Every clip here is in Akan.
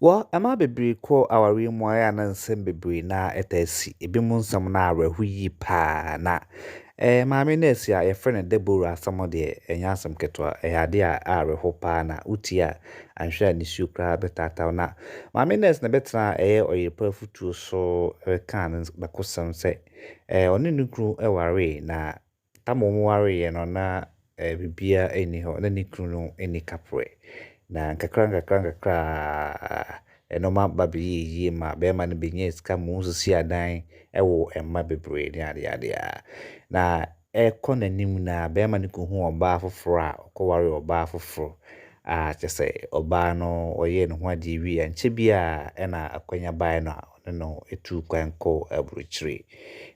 Wɔ mmaa bebree kɔ awareɛ mu a na nsɛm bebree na ɛtaa si. Ebinom nsɛm no awerɛho yie paa na eh, maame nɛɛse a yɛfrɛ no Deborah asɛm deɛ ɛnyɛ asɛm ketewa. Ɛyɛ adeɛ a awerɛho paa na wotie a anhwɛ a nisuo koraa bɛtaata wo. Na maame nɛɛse na ɛbɛtenaa ɛyɛ ɔyere pa afutuo so bɛkaa ne bakosɛm sɛ eh, ɔne ne kunu waree na Ama wɔwareeɛ no, na biribiara nni hɔ, na ne kunu no nni kaprɛ. Na nkakrankakra ara nnoɔma ba bɛyɛɛ yie maa barima no bɛnyaa sika ma ɔsisii adan, woo mma bebree ne adeadeɛ a. Na ɛrekɔ n'anim no ara, barima no kɔhuu ɔbaa foforɔ a ɔkɔwaree ɔbaa foforɔ a kyerɛ sɛ, ɔbaa no ɔyɛɛ ne ho adeɛ wieeɛ a, ankyɛ biara na akwanya baeɛ no a, ɔne no tuu kwan kɔɔ aburokyire.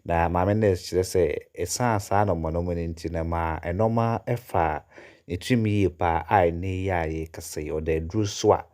Na Maame Nurse kyerɛ sɛ ɛsiane saa anɔmɔnɔmɔ no nti no ɛmaa nnoɔma faa ne tirim yie pa ara a ɛnnɛ yi a yɛrekasa yi ɔda aduro so a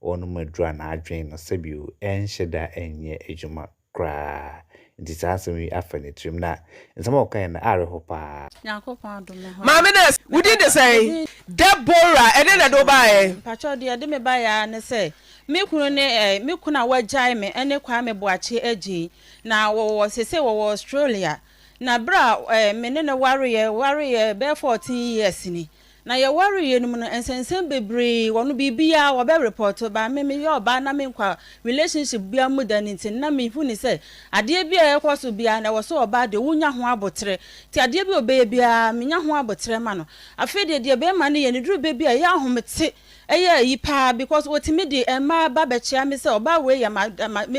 ɔrenom aduro a n'adwene no sɛbio ɛnhyɛ da nyɛ adwuma koraa nti saa asɛm yi afa ne tirim na nsɛm a ɔkaeɛ no awerɛho pa ara. Nyankopɔn adom me ho a. Maame nurse, wo din de sɛn? Deborah, ɛdeɛn na ɛde wo baeɛ? Mpakyɛw, deɛ ɛde me baeɛ ara ne sɛ Me kunu ne eh, me kunu a wagyae me ne Kwame Boakye Adjei. Na wɔwɔ, seesei wɔwɔ Australia. Na berɛ a eh, me ne no wareeɛ, wareeɛ bɛyɛ fourteen years ni. Na yɛwareeɛ no mu no, nsɛnsɛm bebree wɔ no, biribiara wɔbɛ report ba. Me, meyɛ ɔbaa na menkɔ relationship biara mu da no nti no, na mehu no sɛ adeɛ bi a ɛkɔ so biara no, ɛwɔ sɛ ɔbaa deɛ wonya ho aboterɛ. Nti adeɛ bi a ɔbɛyɛ biara, menya ho aboterɛ ma no. Afei deɛ, deɛ bɛrima no yɛ no, ɛduru berɛ bi a ɛyɛ ahomete. Ɛyɛ ayi paa because otumi de mmaa ba bɛkyea me sɛ ɔbaa wei yɛ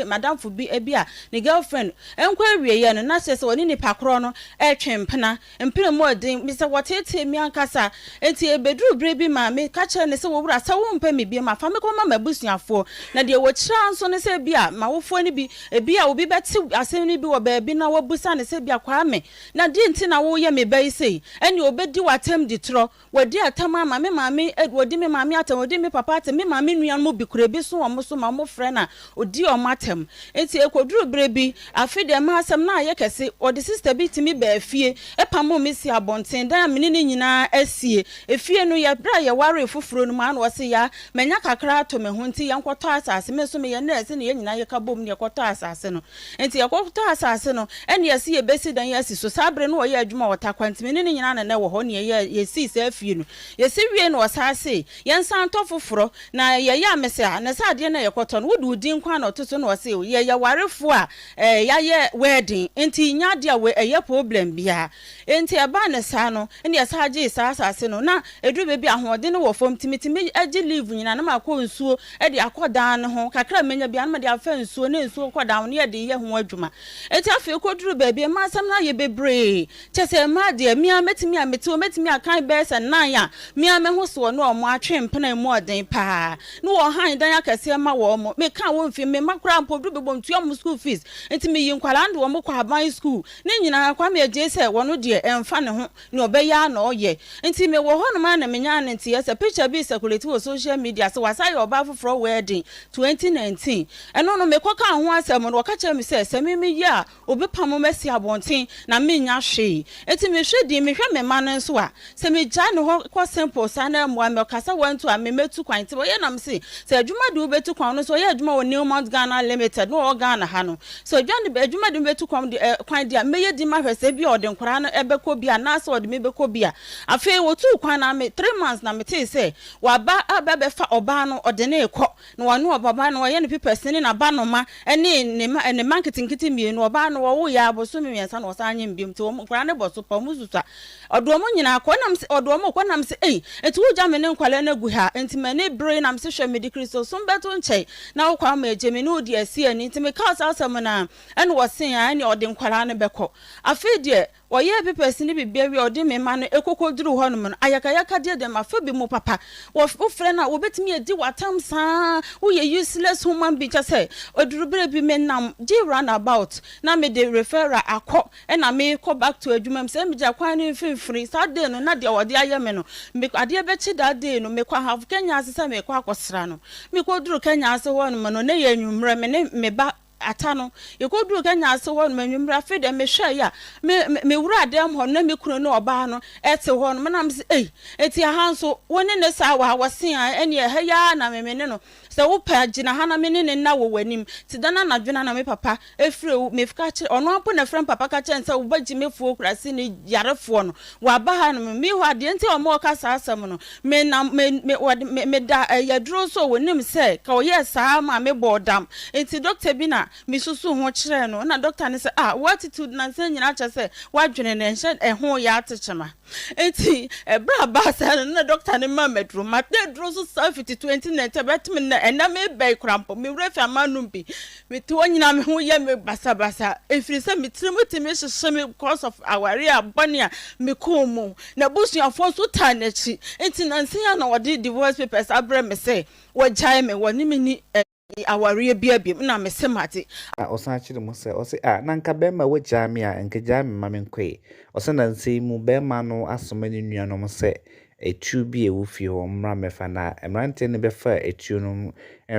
m'adamfo bi ebi a ne girlfriend nkɔ awieɛ no na kyerɛ sɛ ɔne nipa korɔ no retwe mpena. Mpena mu ɔden me sɛ wɔteetee me ankasa nti ɛbɛduru berɛ bi ma me ka kyerɛ no sɛ owura sɛ wo mpɛ me bio ma fa me kɔma m'abusuafoɔ na deɛ wɔkyira nso no sɛ ebia m'awofoɔ no bi ebia obi bɛte asɛm no bi wɔ baabi na wabusa no sɛ ebia Kwame na deɛ nti na woyɛ me ba yi sei ɛnneɛ ɔbɛdi w'atam di torɔ Wɔadi atam ama me maame, wɔdi me maame atam, wɔdi me papa atam, me maame nuanom bi kura bi so wɔ wɔn so ma wɔfrɛ na ɔdi wɔn atam. Enti ɛkɔduruu berɛ bi, afe deɛ ɛma asɛm no ayɛ kɛse, wɔde sista bi tumi baa fie, pamoo me sii abɔnten, dan a me ne no nyinaa asie. Efie no, yɛ berɛ a yɛwaree foforɔ no mu ara na ɔse, Ya, manya kakra ato me ho, nti yɛnkɔtɔ asase. Me nso meyɛ nɛɛse na yɛn nyinaa yɛka boom na yɛkɔtɔɔ asase no. Enti yɛkɔtɔɔ asase no, ɛnna yɛse yebesi dan asi so. Saa bere no na wɔyɛ adwuma wɔ Taquantinmi ne ne nyinaa na na ɛwɔ hɔ, na yɛyɛɛ, yesii saa fie no. Yesi wiei no wɔsan see, Yɛnsan ntɔ foforo. Na yɛyɛ a mese, Ah, na saa adeɛ no a yɛkɔtɔ no, wode wo din kwan na ɔto so? Na wɔse, Oh, yɛyɛ awarefoɔ a, eh, yɛayɛ wɛɛden, enti nnya adeɛ a wei, ɛyɛ problem biara. Enti ɛbaa no saa no, ɛnna yɛsan gyee saa asase no. Ná ɛduru baabi a ahoɔden no wɔ fam, enti metumi gye leave nyinaa na makɔ nsuo de akɔ dan no ho. Kakra a mɛnya biara, na mede afa nsuo ne nsuo kɔ dan ho, na yɛde yɛ ho adwuma. Enti afei ɛkɔduruu baabi a ɛmaa asɛm no ayɛ bebree. Kyerɛ sɛ, ɛmaa deɛ me ara mɛtumi a mete hɔ, mɛtumi akan bɛyɛ sɛ nnan a me ara me ho soɔ ne wɔn atwe mpena a ɛmu yɛ den pa ara. Ná wɔhan dan akɛseɛ ma wɔn. Mekaa wɔn fii, me mma koraa mpo, ɛduru baabi a wɔntua wɔn school fees. Enti meyii nkwadaa no de wɔn kɔɔ aban sukuu. Ne nyinaa, Kwame agyae sɛ wɔno deɛ ɛnfa ne ho, nea ɔbɛyɛ ara na ɔyɛ. Nti me wɔ hɔnom ara na menyaa ne nteɛ sɛ picture bi recirculate wɔ social media sɛ wasan yɛ ɔbaa foforɔ wedding 2019. Ɛno no mekɔ kaa ho asɛm no wɔka kyerɛɛ me sɛ sɛ me meyɛ a obepamo me asi abɔnten na mennya hwee. Nti mehwɛ din, mehwɛ me mma no nso a Sɛ me gya ne hɔ kɔ simple saa na ɛmmoa me ɔka sɛ wantu a me mɛtu kwan nti ɔyɛ nam se sɛ adwuma de wobɛtu kwan ɔno nso ɔyɛ adwuma wɔ New Mount Ghana limited na ɔwɔ Ghana ha no sɛ odwa ne adwuma de me bɛtu kwan de eh kwan deɛ mɛyɛ din mahwɛ sɛ ebia ɔde nkwadaa no ɛbɛkɔ bi anaa sɛ ɔde me bɛkɔ bi a afei wɔtuu kwan na me three months na metee sɛ waba aba bɛfa ɔbaa no ɔde ne rekɔ na wɔne ɔbaba no wɔyɛ ne pipɛs ne naba noma ɛne ne ma ne ma nketenkete mmienu ɔbaa no wɔwo yɛ abosome mmiɛnsa na ɔsan nyem biom nti wɔn nkwadaa no bɔ so pa wɔn susua Ɔde wɔn nyinaa kɔ. Ɛnam sɛ, ɔde wɔn kɔ. Ɛnam sɛ, ei, enti wogya me ne nkwadaa no agu ha? Enti m'ani bere, ɛnam sɛ, hwɛ, mede Kristosom bɛto nkyɛn, na wo kwan ma agye me ne wo de asi ani. Enti mekaa saa asɛm no ara, ɛnna wɔsee, Aane, ɛnneɛ ɔde nkwadaa no bɛkɔ. Afei deɛ, wɔyɛɛ papers ne biribiara wie a, ɔde me ma no, ɛkɔkɔduruu hɔnom no, ayakayakadeɛ deɛ mafa bi mu papa. Wɔ, wofrɛ no a, wɔbɛtumi adi wo atam saa ara, woyɛ useless human being, kyerɛ sɛ, ɛduru berɛ bi, menam, gye runabout, na mede referral akɔ Ɛna me kɔ back to adwuma mu, sɛ me gya kwan no mfimfini, saa day no na deɛ wɔde ayɛ me no, me kɔ, adeɛ bɛkye that day no, me kɔ have Kenya ase sɛ me kɔ akɔ sra no, me kɔ duru Kenya ase hɔ nom no, na ɛyɛ anwummerɛ, me ne me ba Ata no, yɛ kɔ duru Kenya ase hɔ nom anwummerɛ, afei deɛ me hwɛɛ ya, me, me, me wuraa dan mu hɔ no, na me kunu ne ɔbaa no ɛte hɔ nom, na me se ei, enti ɛha nso, wo ne ne saa wɔ ha, wɔ se aah, ɛneɛ ɛha yi ara na me, me ne no. Sɛ wo pɛ a, gyina ha na me ne no nna wɔ w'anim. Tse dɛn anadwo no na me papa efrɛ wo? Mefka kyerɛ, ɔnoara mpo na efrɛ me papa ka kyerɛ no sɛ wo ba Gyimefo Okrase no yarefoɔ no, ɔaba ha nom. Me hɔ a, deɛ nti a ɔma ɔka saa asɛm no, me na, me, me, wɔde, me, meda ɛyɛ aduro nso a wɔnim sɛ ka ɔyɛɛ saa ara maa me bɔɔ dam. Nti dɔkta bi na me susuu ho kyerɛɛ no, ɛna dɔkta no sɛ, ah, wo attitude nansa nyinaa kyerɛ sɛ w'adwene no ɛnhyɛ ɛho yɛ atekyema. Ntsi ber a baasa no nna dɔkta no maa me edur, matse edur so saa fitsi tuo ntsi nna nkyɛ bɛtse me ndɛ, nna merebɛn koraa mpo, me werɛ fir a manom bi, metse hɔ nyina me ho yɛ me basabasa efirisa me tsir mu tse me hyehye me because of aware a bɔn a mekɔɔ mu, na ebusuafo so taa n'ekyir, ntsi nansa yi ara na wɔdze divorce papers abrɛ me sɛ wɔgyae me, wɔnye me nni. me awareɛ bia biom na mese magye. Na ɔsan kyere mu sɛ, ɔse ah na nka bɛɛma wagyaa me a nka gyaa me ma menkɔe. Ɔse na nsei mu bɛɛma no asoma ne nua nom sɛ atuo bi a ɛwɔ fie hɔ mmra mmɛfa na mmeranteɛ no bɛfaa atuo nom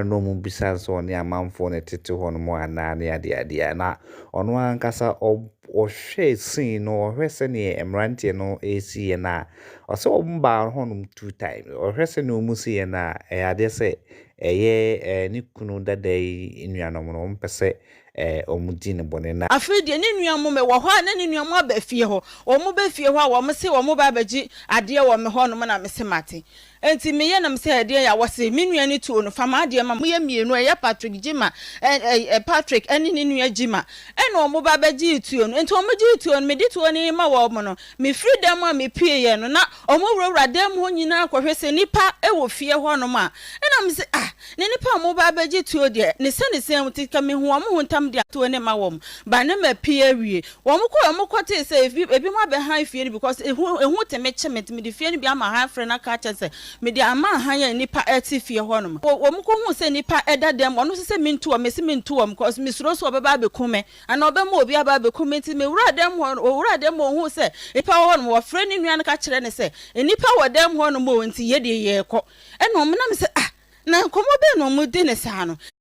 nom mu bisaa sɛ ɔne amanfoɔ na ɛtete hɔ nom anaa ne adeɛ adeɛ a na ɔno ankasa ɔhwɛ scene no ɔhwɛ sɛdeɛ mmeranteɛ no ɛresiiɛ no a ɔse wɔn baa hɔ nom two times ɔhwɛ sɛdeɛ wɔn siiɛ no a ɛyɛ adeɛ sɛ Ɛyɛ ne kunu dada yi nuanom no, wɔmpɛ sɛ wɔdi no bɔne. Na. Afei deɛ, ne nua mo, mewɔ hɔ a, na ne nua mo aba fie hɔ. Wɔba fie hɔ a, wɔse wɔreba abɛgye adeɛ wɔ me hɔnom, na mese mate. Enti meyɛ na mese, Ɛdeɛn a? Wɔse, Me nua no tuo no, fa m'adeɛ ma. Moyɛ mmienu, ɛyɛ Patrick Gyimah, ɛ-ɛ-ɛ, Patrick ne ne nua Gyimah, ɛna wɔba bɛgyee tuo no. Enti wɔgyee tuo no, mede tuo no rema wɔn no, Mefiri dan mu a mepueeɛ no, na wɔwurawura dan mu hɔ nyinaa kɔhwɛ sɛ nnipa wɔ fie hɔnom a. Ɛnna mese, Ah, na nnipa a wɔreba abɛgye tuo deɛ, ne sɛ ne sɛn nti, nka mehu wɔn ho ntɛm de atuo no ma wɔn, ba ne mapue awie. Wɔkɔe a wɔkɔtee sɛ ebi, ebinom abɛhan fie no because ehu, ehu te me kye me nti, mede fie no bi ama han frɛ no aka akyerɛ sɛ mede ama han a nnipa te fie hɔnom. Wɔkɔhuu sɛ nnipa da dan mu, wɔn nso sɛ mentu wɔn, mese mentu wɔn because mesuro sɛ wɔbɛba abɛku me. Anaa ɔbɛma obi aba abɛku me. Enti mewuraa dan mu hɔ no, ɔwuraa dan mu hɔ, ɔhuu sɛ nnipa wɔ hɔnom. Ɔfrɛɛ ne nua no ka kyerɛɛ no sɛ, Nnipa wɔ dan mu hɔnom o, enti yɛ deɛ yɛrekɔ. Ɛnna ɔmenam sɛ, Ah, na nkɔmmɔ bɛn na wɔredi no saa no?